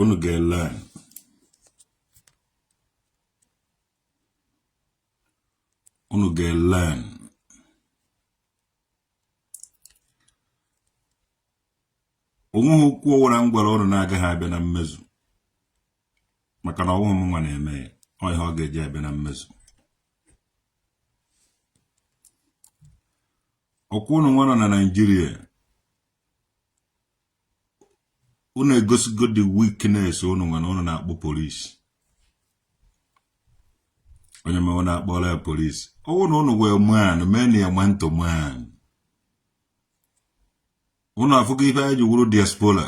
unu ga-learn unu ga-learn onweghị okwu ọwụla m gwara ụnụ na-agaghị abịa na mmezu maka na ọwụghị m nwa na-eme ya ọ ihe ọ ga-eji abịa na mmezu ọkwa ụnụ nwa nọ na Naịjirịa unu egosigo the weakness unu nwere unu na-akpọ polisi onye mewe unu akpọrọ ya polisi ọwụ na unu wụ man meenị ya man to man unu afụgo ife anyị ji wụrụ diaspora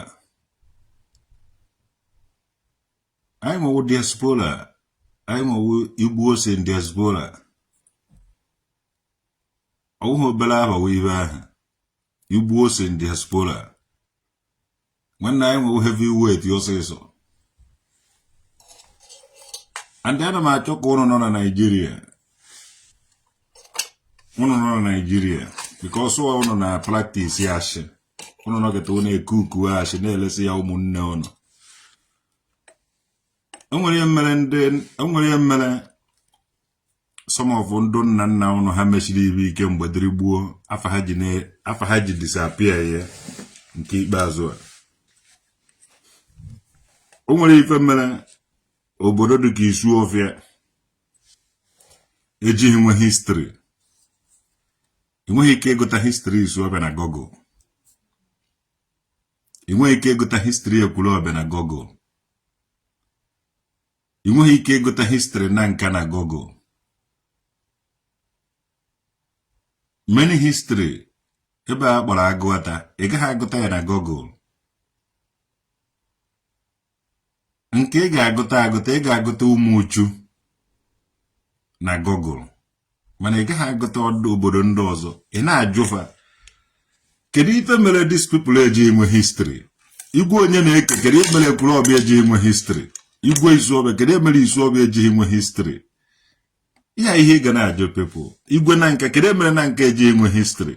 anyị nwa wụ diaspora anyị nwa wụ Igbos in diaspora ọwụghị obere afa wụ ife ahụ Igbos in diaspora nwanne anyị nwa wụ heavy weight ọsịsọ and ana m achọ ka ụnụ nọ na Naịjirịa ụnụ nọ na Naịjirịa because ụnụ na-practice ashị ụnụ nọkata ụnụ e-cook ashị na-elesi ya ụmụnne ụnụ enwere ihe mere ndị enwere ihe mere some of ndụ nna nna ụnụ ha mesiri ibe ike mgbe dịrị gboo afa ha ji disappear nke ikpeazụ a o nwere ife mere obodo dị ka Isuọfịa ejighị nwe history ị nweghị ike ịgụta history Isuọfịa na Google ị nweghị ike ịgụta history Ekwulọbịa na Google ị nweghị ike ịgụta history Nanka na Google many history ebe a kpọrọ Agụata ị gaghị agụta ya na Google nke ị ga-agụta agụta ị ga-agụta Ụmụchu na Google mana ị gaghị agụta obodo ndị ọzọ ị na-ajụfa kedu ife mere these people eji enwe history Igwe Onyeneke kedu ihe mere Ekwulọbịa eji enwe history Igwe Isuọfịa kedu ihe mere Isuọfịa eji enwe history ya ihe ị ga na-ajụ people Igwe Nanka kedu ihe mere Nanka eji enwe history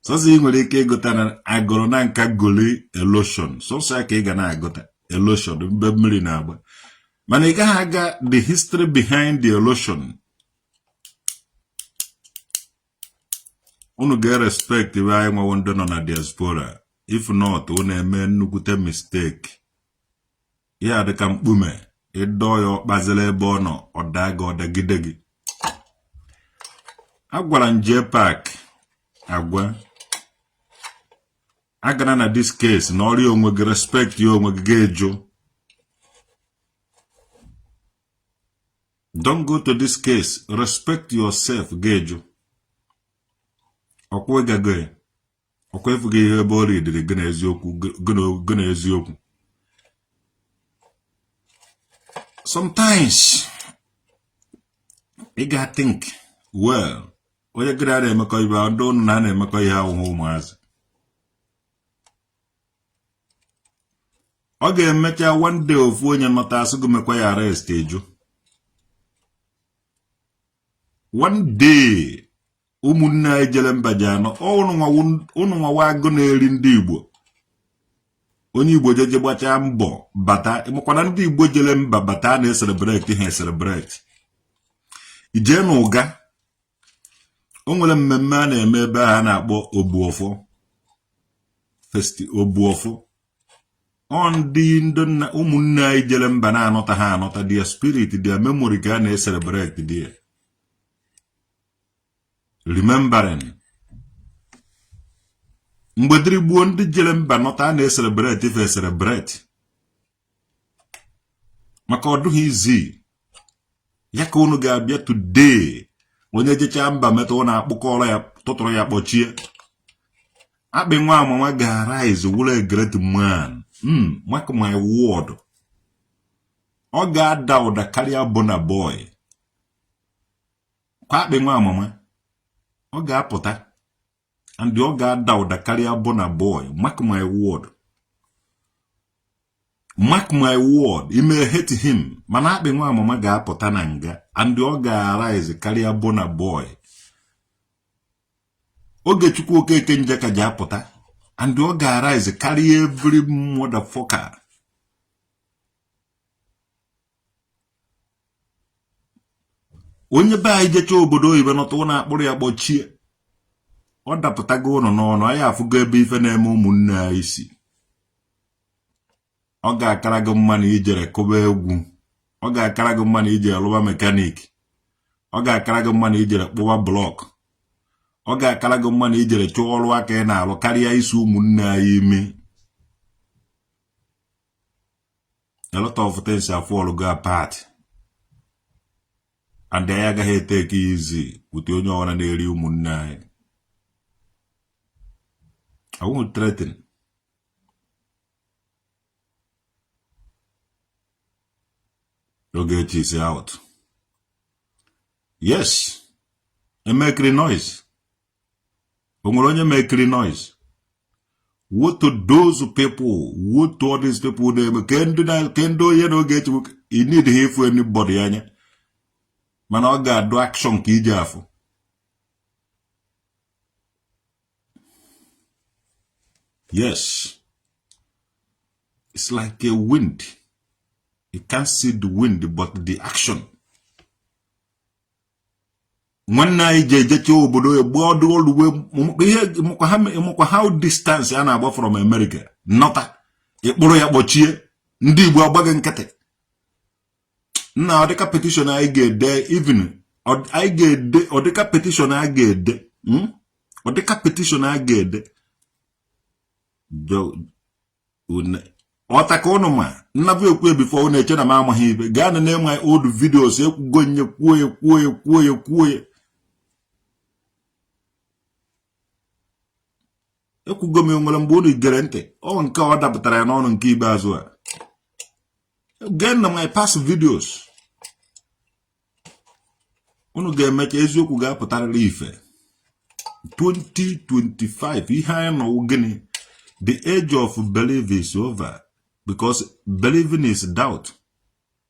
sọsọ ị nwere ike ịgụta na Agụlụ Nanka gully erosion sọsọ ya ka ị ga na-agụta erosion mgbe mmiri na-agba mana ị gaghị agụ the history behind the erosion unu ga-respectibe anyị nwa wụ ndị nọ na diaspora if not unu eme nnukwute mistake ya dịka mkpume ịdọ ya ọkpazila ebe ọ nọ ọ daa gị ọdagide gị agwara m Jpac agwa agana na this case nọrịa onwe gị respectia onwe gị ga-ejụ don't go to this case respect yourself ga-ejụ ọkwa ịgago ya ọkwa efughị ihe ebe ọrịa dịrị gị na eziokwu gị na eziokwu sometimes ị ga think well onye gị na ya na-emekọ ife ndị ụnụ na a na-emekọ ihe ahụhụ ụmụazị ọ ga-emecha one day ofu onye nọta asị gị mekwa ya arrest eju one day ụmụnne anyị jere mba ji anọ ụnụ nwawa agụ na-eri ndị Igbo onye Igbo jeje gbachaa mbọ bata makwa na ndị Igbo jere mba bata a na-eselebrate ha eselebrate ijee na Uga o nwere mmemme a na-eme ebe a na-akpọ Obuọfọ fest Obuọfọ ọ ndị ndị nna ụmụnne anyị jere mba na-anọta ha anọta their spirit their memory ka a na-eselebrate their remembering mgbe dịrị gboo ndị jere mba nọta a na-eselebrate fa eselebrate maka ọ dụghị easy ya ka unu ga-abịa today onye jechaa mba meta unu akpụkọrọ ya tụtụrụ ya kpọchie Akpị nwa mama ga-arise wụrụ a great man hmm, mark my word ọ ga-ada ụda karịa Burna Boy kwa Akpị nwa mama ọ ga-apụta and ọ ga-ada ụda karịa Burna Boy mark my word mark my word you may hate him mana Akpị nwa mama ga-apụta na nga and ọ ga-arise karịa Burna Boy Ogechukwu Okeke Njaka ji apụta and ọ ga-arise karịa every motherfucker onye be anyị jecha obodo oyibo nọta ụnọ akpụrụ ya kpọchie ọ dapụtago ụnụ n'ọnụ anyị afụgo ebe ife na-eme ụmụnne anyị si ọ ga-akara gị mma na ijere kụba egwu ọ ga-akara gị mma na ijere lụba mechanic ọ ga-akara gị mma na ijere kpụwa block ọ ga-akara gị mma na ijere chụọ ọrụ aka ị na-alụ karịa isi ụmụnne anyị ime a lot of things afallgo apart and anyị agaghị etake easy with onye ọwụna na-eri ụmụnne anyị I won't threaten Ogechi is out yes e makeri noise onwere onye ma ekiri noise woe to those people woe to all these people na-eme ke ndị onye na oge echegbu you need ha ịfụ anybody anya mana ọ ga-adụ action ka iji afụ yes it's like a wind you can't see the wind but the action nwanne anyị ji ejecha obodo egbu ọdụ oluwe ihe ị makwa how distance a na-agba from America nọta ị kpụrụ ya kpọchie ndị Igbo agba gị nkịtị nna ọ dịka petition anyị ga-ede even anyị ga-ede ọ dịka petition a ga-ede ọ dịka hmm? petition a ga-ede ọta ka ụnụ ma nnabụ ekwue before ụnụ eche na m amaghị ihe gaa na-ene my old videos ekwugo m ya kwuo ya kwuo ya kwuo ya kwuo ya ekwugo m ya na mbụ unu egerọ ntị ọ nke ọ dapụtara ya n'ọnụ nke ikpeazụ a gee na my past videos unu ga-eme ka eziokwu ga-apụtarịrị ife 2025 ihe anyị nọ wụ gịnị the age of belief is over because believing is doubt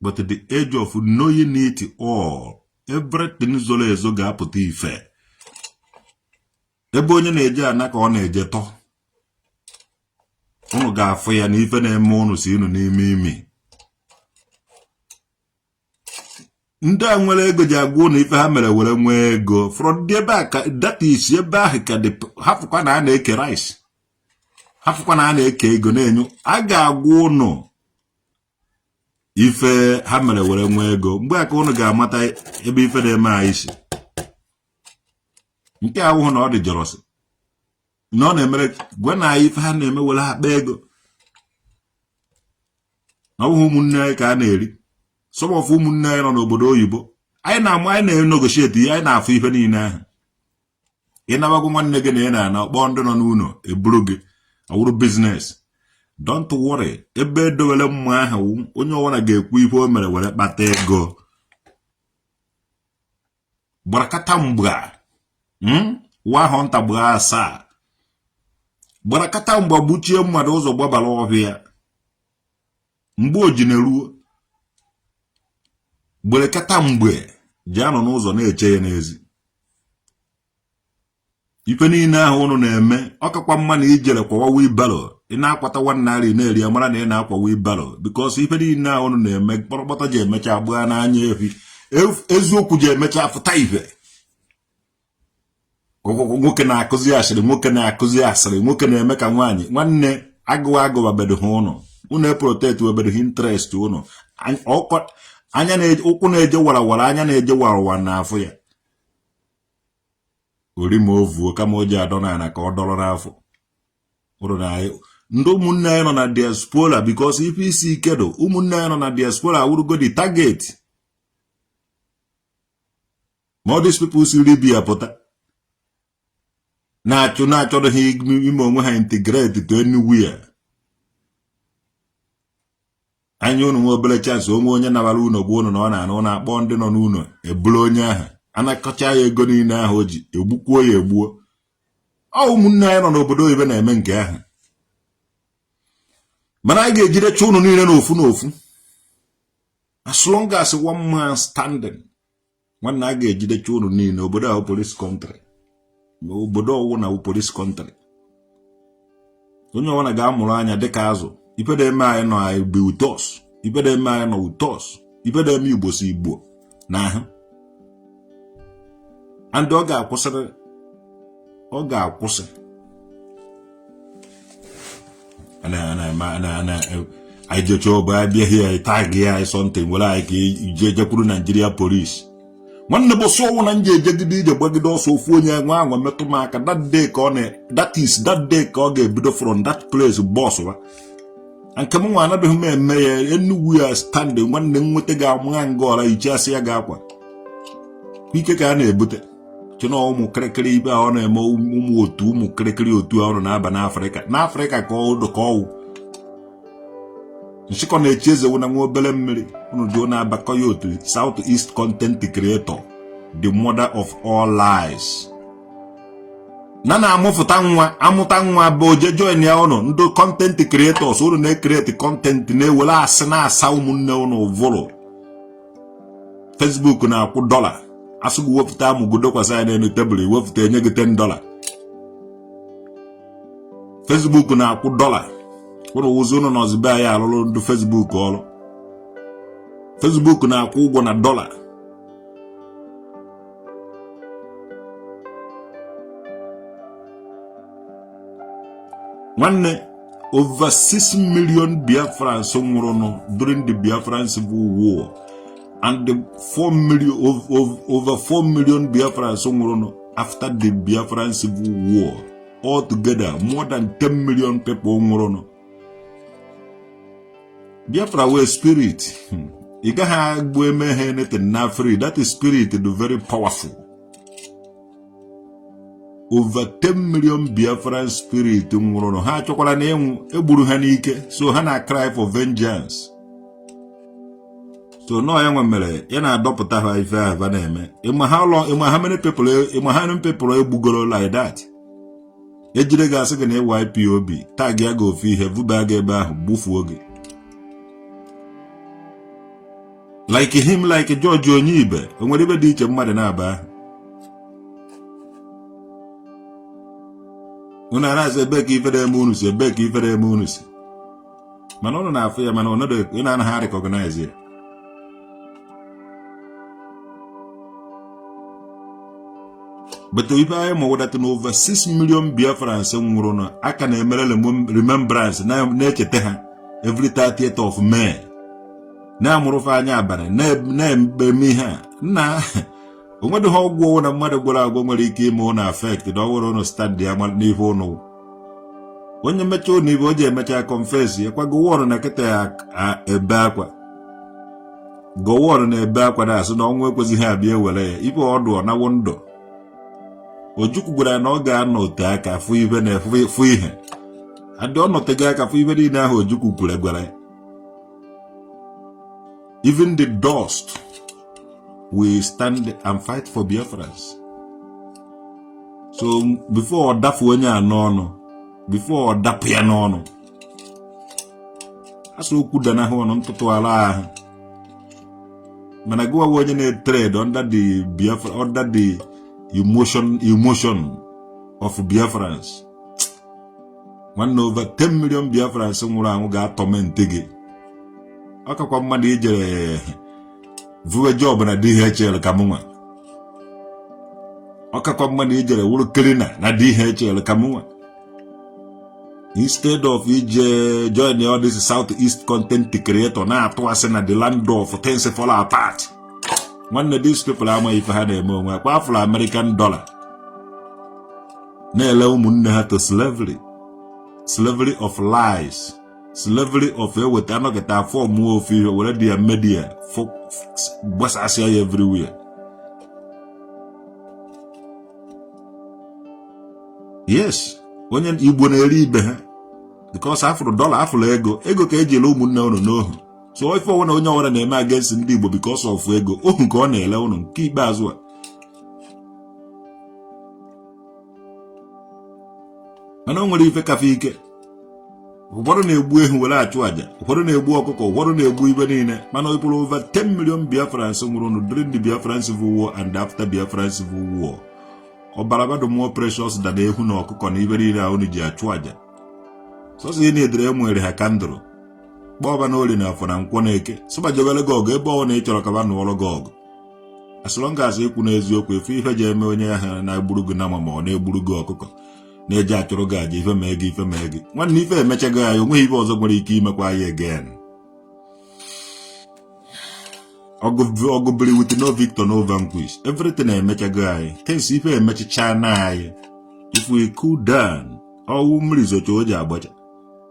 but the age of knowing it all everything zoro ezo ga-apụta ife ebe onye na-eje ana ka ọ na-eje tọ unu ga-afụ ya na ife na-eme unu si unu n'ime imi ndị a nwere ego ji agwa ụnụ ife ha mere were nwee ego from the back that is ebe ahụ ka dị hapụkwa na a na-eke rice hapụkwa na a na-eke ego na-enye a ga-agwa ụnụ ife ha mere were nwee ego mgbe a ka ụnụ ga-amata ebe ife na-eme anyị si nke a wụhụ na ọ dị jealousy na ọ na-emere gwa na anyị ife ha na-eme were akpa ego na ọ bụghị ụmụnne anyị ka a na-eri some of ụmụnne anyị nọ n'obodo oyibo anyị na-amụ anyị na-negotiate ihe anyị na-afụ ife niile ahụ ị naba gwa nwanne gị na ị na-ana ọ kpọọ ndị nọ n'ụlọ eburu gị ọ wụrụ business don't worry ebe e dowere mmụọ ahụ onye ọbụla ga-ekwu ife o mere were kpata ego gbarakata mgba hmm? nwa ahụ nta gbaa asaa gbarakata mgba gbuchie mmadụ ụzọ gbabara ọhịa mgbe o ji na-eruo gberekata mgbe ji anọ n'ụzọ na-eche ya n'ezi ife niile ahụ ụnụ na-eme ọ kakwa mma na i jere kwawa wheelbarrow ị na-akwata nwa nri ị na-eri a mara na ị na-akwa wheelbarrow because ife niile ahụ ụnụ na-eme kpọrọkpọta ji emecha gbaa n'anya efi eziokwu ji emecha fụta ife nwoke na-akụzi asịrị nwoke na-akụzi asịrị nwoke na-eme ka nwaanyị nwanne agụwa agụwa bedo ha ụnụ ụnụ eproteti webedo ha interest ụnụ anya ụkwụ na-eje warawara anya na-eje warawara na-afụ ya orima ovuo kama o ji adọ n'ala ka ọ dọrọ n'afọ ndị ụmụnne anyị nọ na diaspora because ife isi ike do ụmụnne anyị nọ na diaspora awụrụgo the target ma all these people si Libya pụta na-achụ na-achọrọ ha ime onwe ha integrate to anywhere anya unu nwe obere chance o nwee onye nabara unu gwa unu na ọ na-ana ụlọ akpọọ ndị nọ n'ụlọ eburu onye ahụ anakọcha ya ego niile ahụ o ji egbukwuo ya egbuo ọ ụmụnne anyị nọ n'obodo oyibo na-eme nke ahụ mana anyị ga-ejidecha ụnụ niile n'ofu n'ofu as long as one man standing nwanna a ga-ejidecha unu niile obodo a wụ police country ma obodo ọwụna wụ police country onye ọbụla ga-amụrụ anya dịka azụ ife na-eme anyị nọ anyị bụ utos ife na-eme anyị nọ utos ife na-eme igbo si igbo n'ahụ and ọ ga-akwụsịrị ọ ga-akwụsị anyị jecha ọba abịaghị ya tag ya anyị something were anyị ka ije jekwuru Nigeria police nwanne bụ sọ ọnwụ na nje ejegide ije gbagide ọsọ ofu onye nwaa anwa metụ m aka that day ka ọ na that is that day ka ọ ga-ebido from that place bọs wa nke m nwa anabeghị m eme ya enugwu ya standị nwanne m nweta ga-amụgha nga ọra iche asị ya ga akwa ike ka a na-ebute chena ụmụ kịrịkịrị ibe ahụ na-eme ụmụ otu ụmụ kịrịkịrị otu a ụnụ na-aba n'afrịka n'afrịka ka ọdụ ka ọwụ nchịkọ na-echi eze wụ na nwa obere mmiri unu jụọ na-abakọ ya otu south east content creator the mother of all lies na na-amụfụta nwa amụta nwa bụ oje join ya ụnụ ndị content creators ụnụ na-ekreti content na-ewere asị na-asa ụmụnne ụnụ vụrụ Facebook na-akwụ dọla a sị gị wepụta amụ gị dokwasị ya n'elu tebụl i wepụta e nye gị 10 dọla Facebook na-akwụ dọla ụnụ wụzi ụnụ nọzi be anyị alụrụ ndị Facebook ọrụ Facebook na-akwụ ụgwọ na dọla nwanne over 6 million biafrans nwụrụnụ during the biafran civil war and the over 4 million biafrans nwụrụnụ after the biafran civil war altogether more than 10 million people nwụrụnụ Biafra nwere spirit hmm. ị gaghị agbu eme ha anything na free that spirit dị very powerful over 10 million Biafran spirit nwụrụ ha achọkwara na ịnwụ egburu ha n'ike so ha na cry for vengeance so na ọ ya nwe mere ya na-adọpụta ha ife ha na-eme ịma how many people ịma how many people egbugoro like that ejire gị asị gị na ị wụ IPOB tagịa gị ofu ihe vuba gị ebe ahụ gbufuo gị like him like George Onyibe o nwere ife dị iche mmadụ na-aba ahụ unu amaghịzi ebe ka ife na-eme unu si ebe ka ife na-eme unu si mana ụnụ na-afụ ya mana ụnụ anaghị arecognize ya but ife anyị ma wụ that na over 6 million biafrans nwụrụ na a ka na-emere remembrance na-echeta ha every 30th of May na-amụrụ fa anya abalị na-eme ihe a nna onwedịghị ọgwụ na mmadụ gwọrọ agwọ nwere ike ime ụnụ effect na ọwụrụ ụnụ standịa n'ife ụnụ onye mechaa ụnụ ife o ji emecha confess lekwa gowon na kịta ya ebe akwa gowon na-ebe akwa na-asị na ọnwụ ekwezighị abịa ewere ya ife ọdụ ọ nawo ndụ ojukwu gwara na ọ ga-anọte aka fụ ife na fụ ihe adị ọ nọtego aka fụ ife niile ahụ ojukwu kwuru gwara ya even the dust will stand and fight for Biafrans so before ọ dafu onye a n'ọnụ before ọ dapụ ya n'ọnụ a sị okwu danahụ ọnụ ntụtụ ala ahụ mana gụwa onye na-etrade under the Biafra under the emotion emotion of Biafrans nwanne over 10 million biafrans nwụrụ anwụ ga-atọmentị gị ọ kakwa mmadụ ijere vuwe job na DHL ka mụnwa ọ kakwa mmadụ ijere wụrụ cleaner na DHL ka mụnwa instead of ije join all this south east content creator na-atụ asị na the land of things fall apart nwanne these people amaghị ife ha na-eme onwe akwa afụrụ American dollar na-ele ụmụnne ha to slavery slavery of lies slavery of eweta anọkata afọmụọ ofu ihe were their media gbasasịa ya everywhere yes onye igbo na-ere ibe ha because a fụrụ dollar a fụrụ ego ego ka e ji ele ụmụnne unu n'ohu so ife ọwụna onye ọwụna na-eme against ndị igbo because of ego ohu ka ọ na-ele ụnụ nke ikpeazụ a mana o nwere ife ka ife ike ụfọdụ na-egbu ehi were achụ aja ụfọdụ na-egbu ọkụkọ ụfọdụ na-egbu ibe niile mana ọbara over 10 million Biafrans nwụrụnụ during the Biafran Civil War and after Biafran Civil War ọbara ba dị more precious than ehi na ọkụkọ na ibe niile ahụ ji achụ aja sọsọ ihe na-edere e nwere ha candle kpọọ ba na olie na afọ na nkwọ na eke sị ba jebere gị ọgụ ebe ọwụna ị chọrọ ka ba nụọrọ gị ọgụ as long as i kwụ n'eziokwu ife ife ji eme onye ahụ na-egburu gị nama ma ọ na-egburu gị ọkụkọ na-eji achụrụ gị aja ife mee gị ife mee gị nwanne ife emechago anyị onweghị ife ọzọ nwere ike imekwa anyị again ọgụ biri with no victor no vanquish everything emechago anyị kesi ife emechichana anyị if we cool down ọwụ mmiri zocha o ji agbacha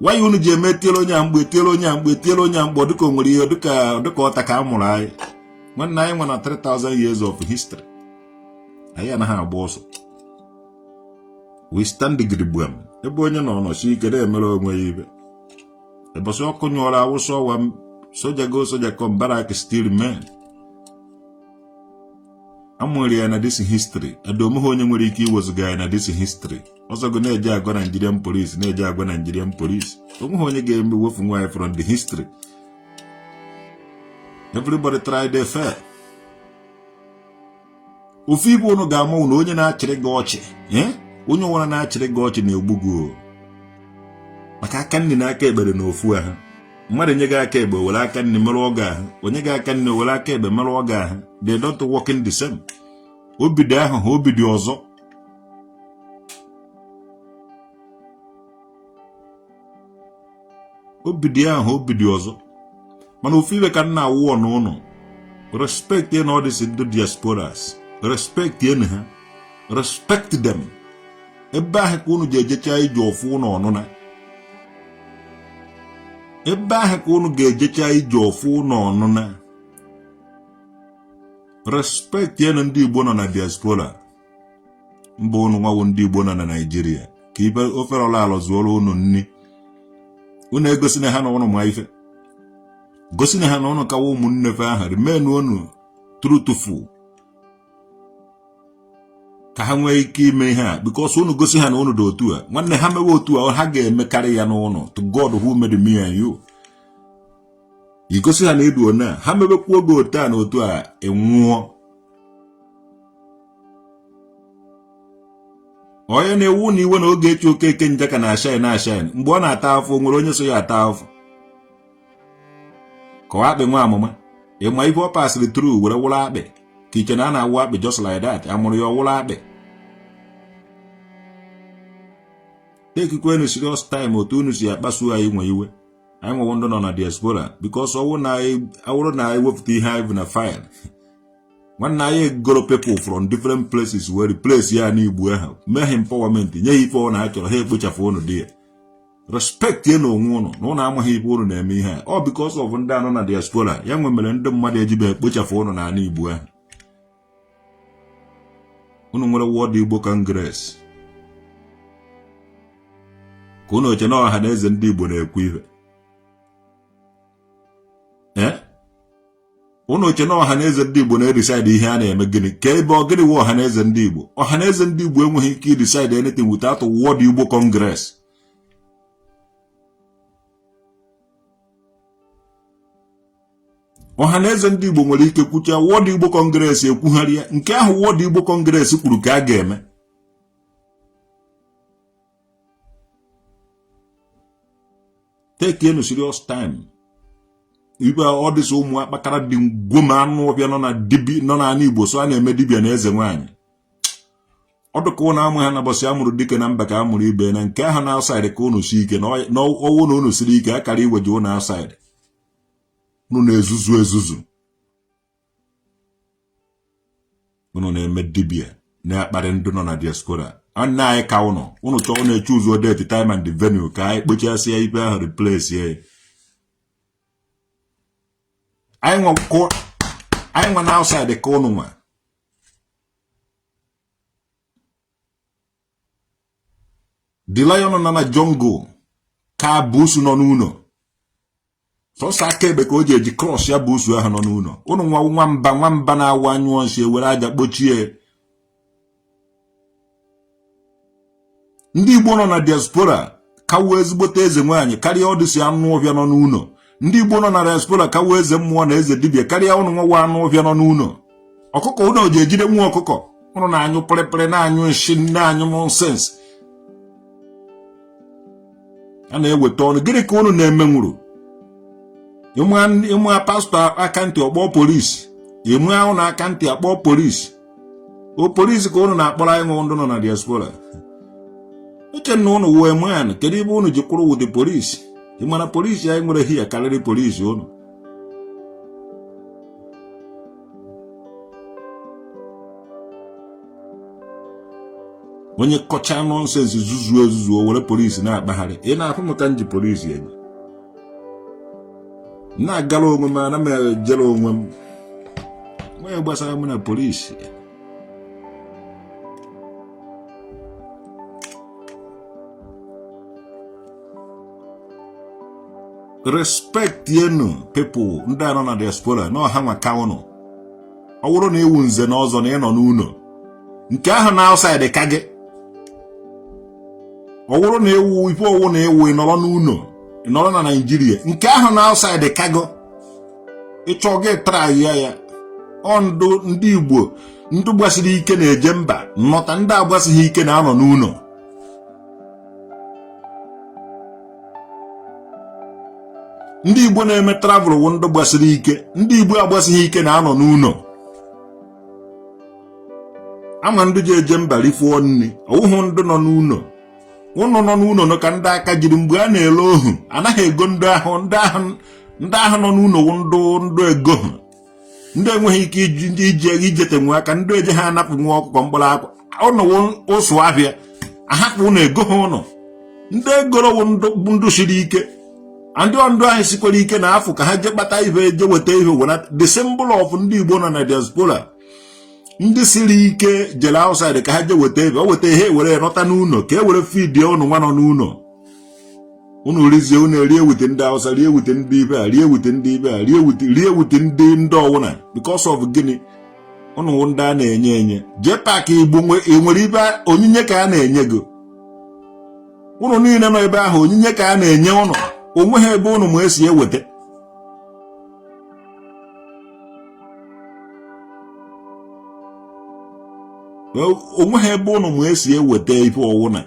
why unu ji eme tiere onye a mgbe tiere onye a mgbe tiere onye a mgbe dịka o nwere ihe dịka dịka ọ taa ka a mụrụ anyị nwanne anyị nwena 3000 years of history anyị anaghị agba ọsọ we stand gidigbam ebe onye nọ nọsi ike na-emere onwe ya ibe ụbọsị ọkụ nyụọrọ a wụsa ọwa soja go soja come barrack still remain a mụrụ ya na this history edomeha onye nwere ike iwezụga ya na this history ọ sọ gị na-eje agwa Nigerian police na-eje agwa Nigerian police onweghị onye ga-eme wefu nwaanyị from the history everybody try they fail ofu ibe ụnụ ga-ama wụ na onye na-achịrị gị ọchị eh? onye ọwara na-achịrị gị ọchị na-egbu gị maka aka nri na aka ekpe dị na ofu ahụ mmadụ nye gị aka ekpe were aka nni merụọ gị ahụ o nye gị aka nni were aka ekpe merụọ gị ahụ they don't work in the same obi dị ahụ ha obi dị ọzọ obi dị ahụ obi dị ọzọ mana ofu ibe ka m na-ayọ unu respectienụ all these ndị diasporas respectienụ ha respect them ebe ahụ ka unu ji ejecha ije ọfụ ụnụ ana ebe ahụ ka unu ga-ejecha ije ọfụ ụnụ ana respectienụ ndị Igbo nọ na diaspora mba unu nwa wụ ndị Igbo nọ na Nigeria ka ibe ofere ọla ala zụọrọ unu nri unu gosinụ ha na ụnụ ma ife gosinụ ha na ụnụ ka wụ ụmụnne fe aha remain unu truthful ka ha nwee ike ime ihe a because unu gosi ha na unu dị otu a nwanne ha mewe otu a ha ga-emekarị ya n'ụlọ to God who made me and you i gosi ha na ị dụ one a ha mebekwuo gị otu a na otu a ị nwụọ onye na-ewu unu iwe na Ogechi Okeke Njaka na-ashine ashine mgbe ọ na-ata afụfụ nwere onye so ya ata afụfụ ka ọ akpị nwa mama ị ma ife ọ pasịrị through were wụrụ akpị ka i che na a na-awụ akpị just like that a mụrụ ya ọ wụrụ akpị tekikwenu serious time otu unu si akpasu anyị nwa iwe anyị nwa wụ ndị nọ na diaspora because ọ wụ na awụrụ na e wepụta ihe anyị bu na file nwanne anyị egoro people from different places were replace ya n'Igbo ahụ mee ha empowerment nye ha ife ọ na-achọrọ ha ekpochapụ ụnụ there respectienụ onwe ụnụ na ụnụ amaghị ife ụnụ na-eme ihe a ọ because of ndị nọ na diaspora ya nwa mere ndị mmadụ ejibe ekpochafụ ụnụ n'ala igbo ahụ ụnụ nwere World Igbo Congress ka ụnụ eche na ọha na eze ndị igbo na-ekwu ihe ụnụ eche na ọhaneze ndị Igbo na-edecide ihe a na-eme gịnị ka ebe ọ gịnị wụ ọhaneze ndị Igbo ọhaneze ndị Igbo enweghị ike idecide anything without World Igbo Congress ọha na eze ndị Igbo nwere ike kwucha World Igbo Congress ekwugharịa nke ahụ World Igbo Congress kwuru ka a ga-eme take nụ serious time ibe all these ụmụ akpakara dị ngwoma anụ ọfịa nọ na dibi nọ na ana Igbo sị ha na-eme dibịa na eze nwaanyị ọ dịka ụnụ amaha na ụbọsị a mụrụ dike na mba ka a mụrụ ibe na nke ahụ nọ outside ka ụnụ sie ike na ọ wụ na ụnụ siri ike akara iweji ụnụ outside ụnụ na-ezuzu ezuzu unu na-eme dibia na-akparị ndị nọ na diaspora nwanne anyị ka ụnụ ụnụ chọọ ụnụ echoose date time and venue ka anyị kpochasịa ife ahụ replace ya anyị nwa nọ outside ka ụnụ nwa the lion nọ na jungle ka busu nọ n'ụlọ sọsọ aka ekpe ka o ji eji crush ya busu ahụ nọ n'ụlọ ụnụ nwa nwamba nwamba na-awụ a nyụọ nsị e were aja kpochie ndị igbo nọ na diaspora ka wụ ezigbote eze nwaanyị karịa all these anụ ọhịa nọ n'ụlọ ndị igbo nọ na diaspora ka wụ eze mmụọ na eze dibia karịa ụnụ nwa anụ ọhịa nọ n'ụlọ ọkụkọ ụnụ ji ejide nwa ọkụkọ ụnụ na-anyụ pịrịpịrị na-anyụ nshi na-anyụ nonsense a na-eweta ọnụ gịnị ka unu na-emenwuru ị maa pastọ aka ntị ọ kpọọ polisi ị maa ahụ na aka ntị a kpọọ polisi ọ polisi ka unu na-akpọrọ anyị nwa ndụ nọ na diaspora uche na unu wee man kedu ebe unu ji kwụrụ with the polisi ị mara polisi anyị nwere hia karịrị polisi unu onye kọchaa nonsense zuzuo ezuzu o were polisi na-akpagharị ị na-afụ m ka m ji polisi enyi na-agara onwe m ana m ejere onwe m onye gbasara m na polisi respect enu people ndị a nọ na diaspora na ọ ha nwa ka ụnụ ọ bụrụ na ị wụ nze na ọzọ na ị nọ n'ụlọ nke ahụ na outside ka gị ọ bụrụ na ị wụ ife ọwụna ị wụ ị nọrọ n'ụlọ ị nọrọ na naijiria nke ahụ na outside ka gị ị chọọ gị traa ya ya ọ ndụ ndị igbo ndị gbasiri ike na-eje mba nnọta ndị agbasighị ike na-anọ n'ụlọ ndị igbo na-eme travel wụ ndị gbasiri ike ndị igbo agbasighị ike na-anọ n'ụlọ a ma ndị ji eje mba rifuo nri ọ wụhụ ndị nọ n'ụlọ ụnụ nọ n'ụlọ nọ ka ndị aka jiri mgbe a na-ele ohu anaghị ego ndị ahụ ndị ahụ ndị ahụ nọ n'ụlọ wụ ndụ ndụ egoha ndị enweghị ike iji ndị iji ego ijete nwe aka ndị ejiha anapụ nwa ọkụkọ mkpụrụ ọka ụnụ wụ ụsụ ahịa a hapụ ụnụ egoha ụnụ ndị e goro wụ ndụ siri ike ndị ọ ndụ ahụ sikwara ike na-afụ ka ha jee kpata ihe e jee weta ihe wena the symbol of ndị Igbo nọ na diaspora ndị siri ike jere outside ka ha jee weta ebe o weta ihe were nọta n'ụlọ ka e were fidie ụnụ nwa nọ n'ụlọ unu rizie unu erie wute ndị awụsa rie wute ndị ibe a rie wute ndị ibe a rie wute rie wute ndị ndị ọwụna because of gịnị unu ndị a na-enye enye jee paakị igbo enwere ibe onyinye ka a na-enye gị ụnụ niile nọ ebe ahụ onyinye ka a na-enye ụnụ o nweghị ebe ụnụ ma e si eweta o nweghị ebe ụnụ ma e si eweta ife ọwụna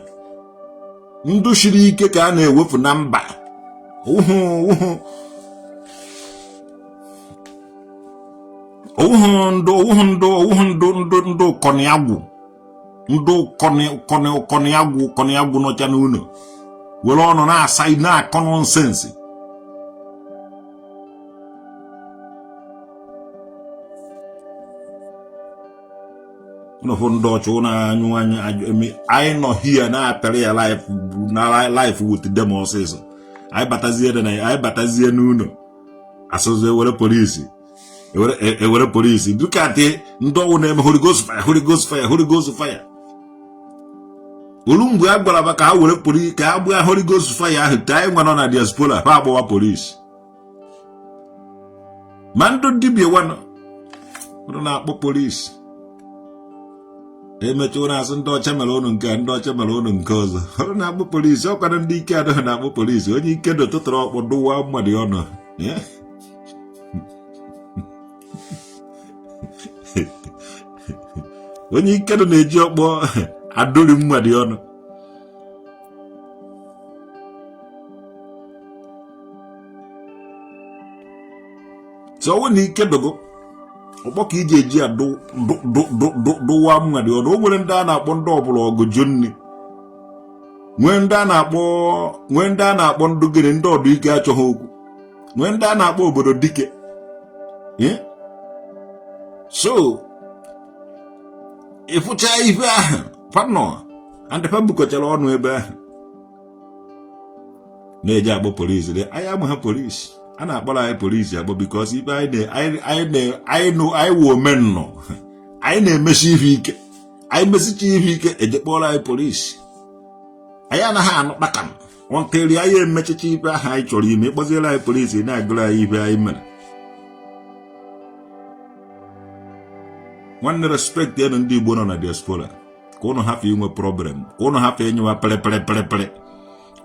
ndụ siri ike ka a na-ewefụ na mba ọ wụhụ ndụ ọ wụhụ ndụ ọ wụhụ ndụ ndụ ndụ kọnịagwụ ndụ kọnịagwụ kọnịagwụ nọcha n'ụlọ were ọnụ na-asa na-akọ nonsense nụfụ ndị ọcha na-anyụ anyị anyị nọ here na-apịara ya life with them ọsịsọ anyị batazie anyị batazie n'ụlọ a sịzị ewere polisi ewere e polisi dịka dị ndị ọ wụ na-eme Holy Ghost fire Holy Ghost fire Holy Ghost fire o lu mgbe a gwara ka ha were polisi ka ha gbaa Holy Ghost fire ahụ ka anyị nwa nọ na diaspora ha agbawa polisi ma ndị dibia wanụ ụnụ na-akpọ polisi emecha ụnụ asị ndị ọcha mere ụnụ nke ndị ọcha mere ụnụ nke ọzọ ụnụ na-akpọ polisi ọ kwa na ndị ike adịghị na-akpọ polisi onye ike dị ọ tụtụrụ ọkpọ dụwa mmadụ ọnụ onye ike dị na-eji ọkpọ adụri mmadụ ọnụ so ọ wụ na ike dị gị ọkpọ ka i ji eji ya dụwa mmadụ ọnụ o nwere ndị a na-akpọ ndị ọ bụlụ ọgụ jụ nri nwee ndị a na-akpọ nwee ndị a na-akpọ ndị gịnị ndị ọdụ ike achọghị okwu nwee ndị a na-akpọ obodo dike so ị fụcha ife ahụ fa nwa ndị fa bukọchara ọnụ ebe ahụ na-eji akpọ polisi dị anyị amaha polisi a na-akpọrọ anyị polisi akpọ because ife anyị nụ anyị wụ omennọ anyị na-emesi ihe ike anyị mesicha ihe ike eje kpọrọ anyị polisi anyị anaghị anụ kpakam until anyị emechicha ife ahụ anyị chọrọ ime ị kpọziere anyị polisi na-agụrụ anyị ife anyị mere nwanne respectie nụ ndị Igbo nọ na diaspora ka ụnụ hafụ inwe problem ka ụnụ hafụ ịnyụwa pịrịpịrịpịrịpịrị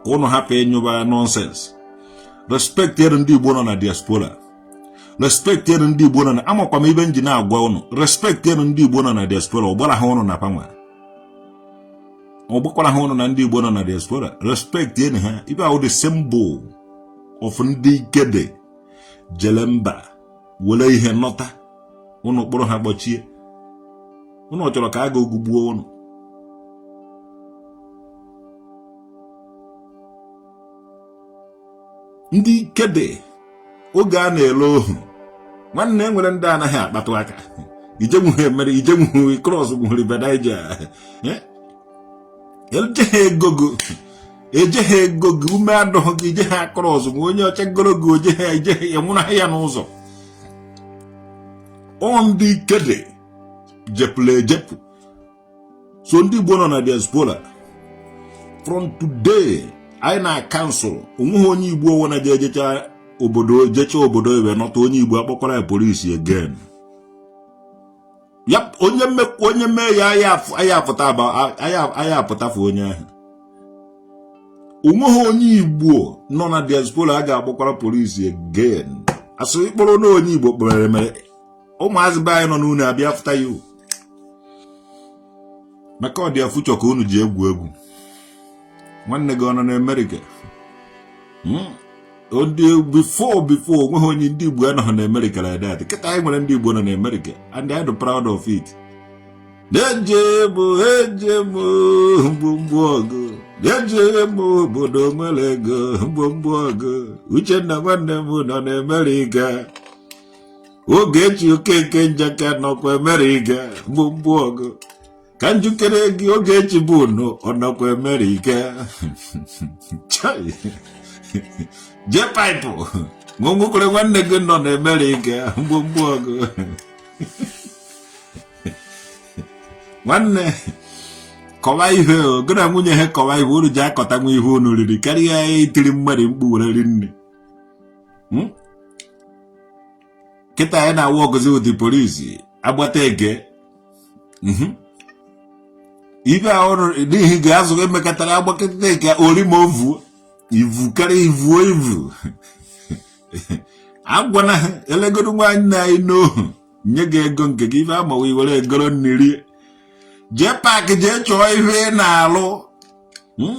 ka ụnụ hafụ ịnyụwa nonsense respectie nụ ndị Igbo nọ na diaspora respectie nụ ndị Igbo nọ na amakwa m ife m ji na-agwa ụnụ respectie nụ ndị Igbo nọ na diaspora ọ gbara ha ụnụ na fa nwa ọ gbakwara ha ụnụ na ndị Igbo nọ na diaspora respectie nụ ha ife ahụ the symbol of ndị ike dị jele mba were ihe nọta ụnụ kpọrọ ha kpọchie ụnụ chọrọ ka agụụ gụgbuo ụnụ ndị ike dị oge a na-ele ohu nwanne e nwere ndị anaghị akpatụ aka i jenwuhe mere i jenwuhe cross nwuhi River Niger eh? ejeghị ego gị ejeghị ego gị ume adịghị gị i jeghị across ma onye ọcha goro gị o jeghị ejeghị anwụnahụ ya n'ụzọ ọ ndị ike dị jepụla ejepụ so ndị Igbo nọ na diaspora from today anyị na-acancel o nweghị onye Igbo ọwụna ji ejecha obodo jecha obodo oyibo nọta onye Igbo akpọkwara ya polisi again ya onye mmekwu onye mee ya anyị apụta anyị apụtafu onye ahụ onweghị onye igbo nọ na diaspora a ga-akpọkwara polisi again asụ ịkpọrọ na onye igbo kpọrọ mere ụmụazị be anyị nọ n'ụnọ abịa fụta ya maka a dị afụ Chukwu unu ji egwu egwu nwanne gị ọ nọ n'Amerika hmm? ndị before before onweghị onye ndị Igbo anọghị n'Amerika like that kịta anyị nwere ndị Igbo nọ n'Amerika and I am proud of it na-eje m eje m mgbomgbo ọgụ na-ejere m obodo nwere ego mgbomgbo ọgụ Uchenna nwanne m nọ n'Amerika Ogechi Okeke Njaka nọkwa Amerika gbogbo ọgụ ka njikere gị Ogechi bụ unu ọ nọkwa Amerika Chai. Jpac nwekwara nwanne gị nọ n'Amerika gbogbo ọgụ nwanne kọwa ihe gị na nwunye ha kọwa ihe unu ji akọtanwu ihe unu riri karịa itiri mmadụ mkpu were ri nne hmm? kịta anyị na-awụ ọgụzi ụdị polisi agbata ege hmm? ibe ahụ n'ihi ga-azụ emekọtara agbakọta eke ori m ovu ivu karịa ivuo ivu agwana ha elegoro nwaanyị na anyị n'ohu nye gị ego nke gị ife amawa iwere egoro nri Jpac jee chọọ ihe ị na-alụ hmm?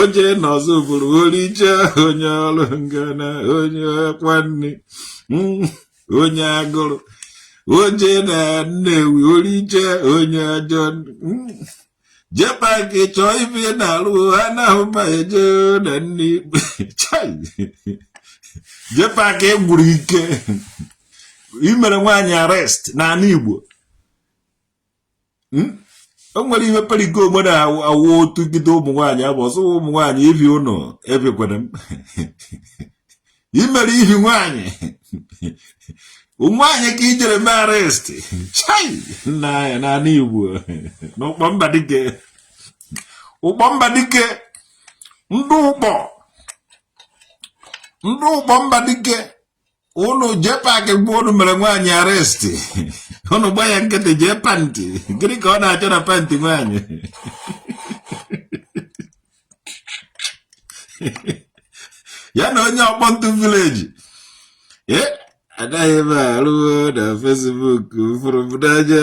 oje n'Ọzụbụlụ oricha onye ọrụ ngana onye kwanne mm, onye agụụ oje na Nnewi oricha onye ajọ mm, Jpac chọọ ihe ị na-alụ anaghị m eje n'ụnọ ikpe Jpac e gwuru ike imere nwaanyị arrest n'ala Igbo hmm? o nwere ihe periko ogbe na-awụ otu gide ụmụ nwaanyị abụ ọsọ ụmụ nwaanyị ibi ụnụ ebikwere m imere ihi nwaanyị nwaanyị ka i jere mee arrest chai nna ya n'ala igbo n'Ụkpọ Mbadike Ụkpọ Mbadike ndị Ụkpọ ndị Ụkpọ Mbadike unu Jpac mgbe unu mere nwaanyị arrest unu gba ya nkịtị jee Panti gịnị ka ọ na-achọ na Panti nwaanyị ya na onye a bụ otu village eh, anaghị m arụ na Facebook mfụrụ m n'anya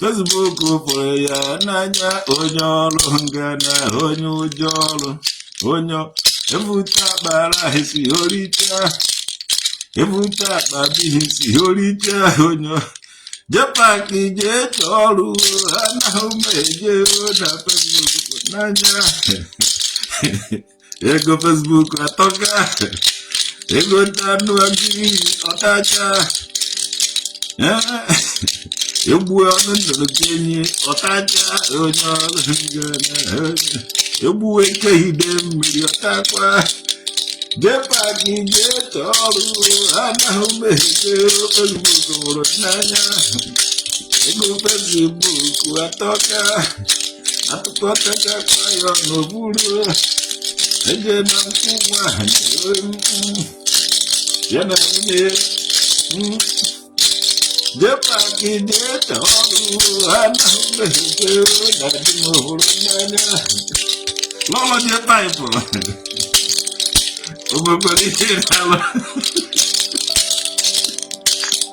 Facebook fụrụ ya n'anya onye ọrụ ngana onye ụjọ ọrụ onye ebute akpa rice o richa ebute akpa beans o richa onye Jpac jee chọọ ọrụ anaghị m eje na Facebook n'anya ego Facebook atọka egota anụ agric ọ tacha egbuo nnukwu enyi ọ tacha onye ọrụ ngana egbuo eke Idemmili ọ takwa Jpac jee chọọ ọrụ anaghị m eje Facebook n'anya ego Facebook atọka atụkọtachakwa ya ọnụ buru eje na nkwụ nwa ha na-eru mm. ya na nwunye ya mm. Jpac jee chọọ ọrụ anaghị m eje na dị m hụrụ n'anya lọlọ Jpac o mekwara ihe na-alụ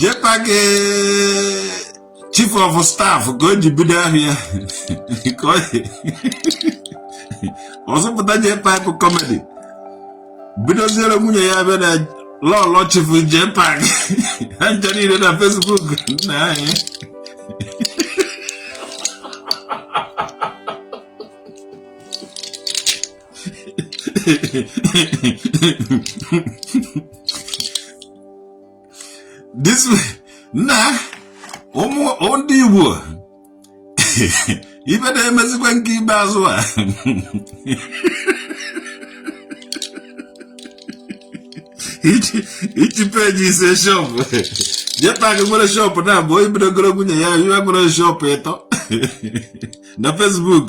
Jpac chief of staff ka o ji bido ahịa ka ọ zụpụta Jpac comedy bidoziere nwunye ya bịa na lọlọ chief Jpac ha ncha niile na Facebook nna anyị this na ụmụ ndị Igbo ibe na-emezikwa nke ibe azụ a each page is a shop Jpac nwere shop naabọ o bidogoro nwunye ya wee nwere shop ịtọ na Facebook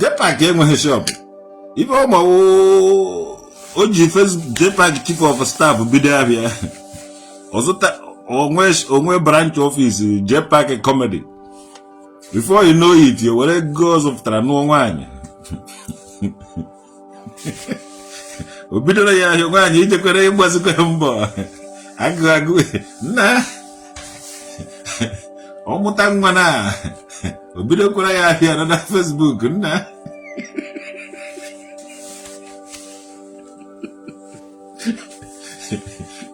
Jpac enweghị shop ife ọma o ji Jpac chief of staff bido ahịa ọ zụta o nwee branch office Jpac comedy before you know it were ego ọ zụpụtara nụọ nwaanyị o bidoro ya ahịa nwaanyị ijekwere ịgbazikwa mbọ agụ agụ nna ọ mụta nwa na o bidokwara ya ahịa nọ na Facebook nna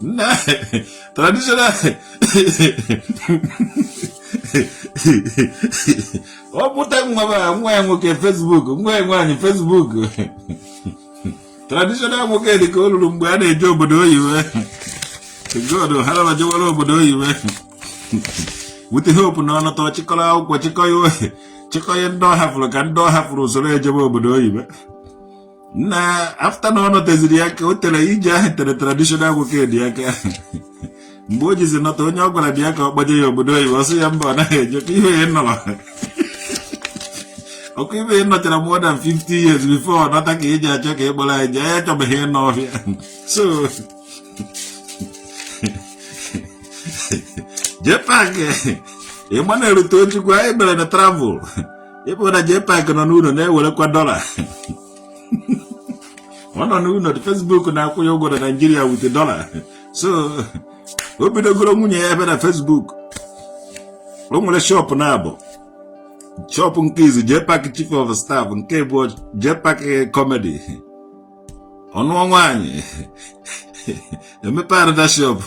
na traditional ọ mụta nwa nwa ya nwoke Facebook nwa ya nwaanyị Facebook traditional Nwokedi ka o ruru mgbe a na-eje obodo oyibo god haraba jewara obodo oyibo with the hope na ọ nọta chịkọrọ akwụkwọ chịkọ ya chịkọ ya ndị ọ hafụrụ ka ndị ọ hafụrụ esoro ejebe obodo oyibo na after na ọ nọteziri aka o tere ije ahụ tere traditional Nwokedi aka mgbe o jizi nọta onye ọ gwara bịa ka ọ kpọje ya obodo oyibo ọ sị ya mba ọ naghị eje ka ihe ya nọrọ ọkụ ibe ya nọchara more than 50 years before ọ nọta ka ị ji achọ ka ị kpọrọ anyị jee ya chọbeghị ịnọ ọhịa so JPAC ị ma na-erute ojukwu anyị mere na travel ịbụ na JPAC nọ n'ụlọ na-ewerekwa dollar ọ nọ n'ụlọ Facebook na-akwụ ya ụgwọ na Nigeria with dollar so o bidogoro nwunye ya ebe na Facebook o nwere shop naabọ shop nke izizi JPAC chief of staff nke ịbụọ JPAC comedy ọ nụọ nwaanyị emepe another shop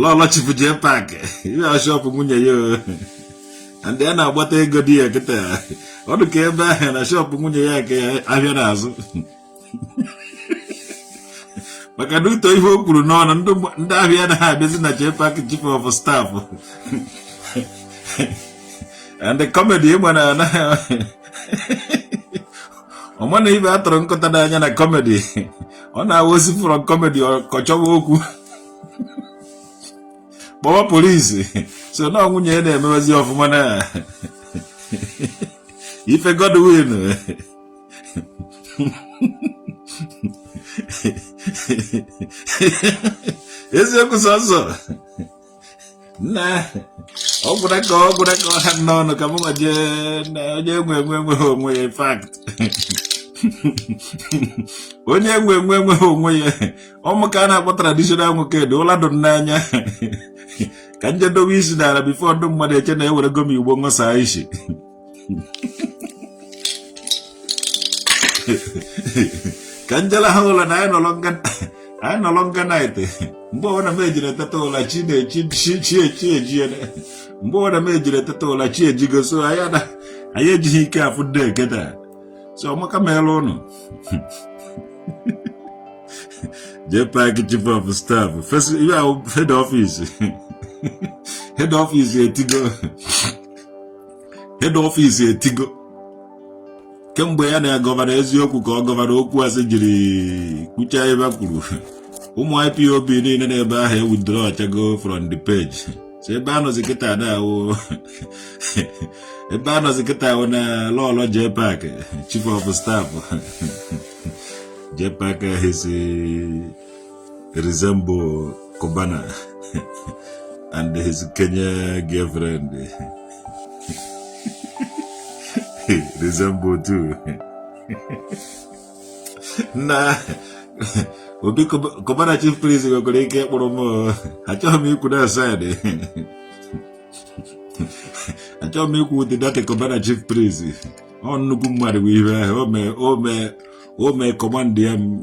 lọlọ chief JPAC ihe shop nwunye ya ndị a na-agbata ego di ya kịta ọ dị ka ebe ahụ na shop nwunye ya ka ahịa na-azụ maka due to ihe o kwuru n'ọnụ ndị ahịa anaghị abịazi na JPAC chief of staff and the comedy ị ma na anaghị ọma na ibe atụrụ nkụta n'anya na comedy ọ na-awụ o si from comedy ka ọ chọwa okwu kpọwa police so na nwunye ya na-emewezi ọfụma na ife Godwin eziokwu sọsọ na ọ gwụra ka ọ gwụra ka ọ ha n'ọnụ ka mụnwa jee na onye nwe enwe enweghị onwe ya in fact onye nwe enwe enweghị onwe ya ọmụ ka a na-akpọ traditional Nwokedi ụla dụ n'anya ka m je dowe isi n'ala before ndị mmadụ eche na ewerego m igbo ṅụsaa isi ka m je laha ụla na anyị nọrọ nga anyị nọrọ nga night mgbe ọbụla m ejiri eteta ụla chi na-echi chi echi ejie mgbe ọbụla m ejiri eteta ụla chi ejigo so anyị ejighị ike afụ ndị eketa so ọ maka meela ụnụ JPAC chief of staff ihe ahụ head office head office etigo head office etigo kemgbe ya na gọvanọ eziokwu ka ọ gọvanọ okwu asị jiri kwucha ebe a kwuru ụmụ IPOB niile n'ebe ahụ ewithdrawchago from the page so ebe a nọzi kịta na-awụ ebe a nọzi kịta awụ na lọlọ JPAC chief of staff JPAC his resemble Cubana and his Kenya girlfriend resemble too. na obi Cubana chief priest nwekwara ike ịkpụrụ m achọghị m ikwu na side achọghị m ikwu ụdị data Cubana chief priest ọ nnukwu mmadụ bụ ihe ahụ o mee o mee o mee command ya m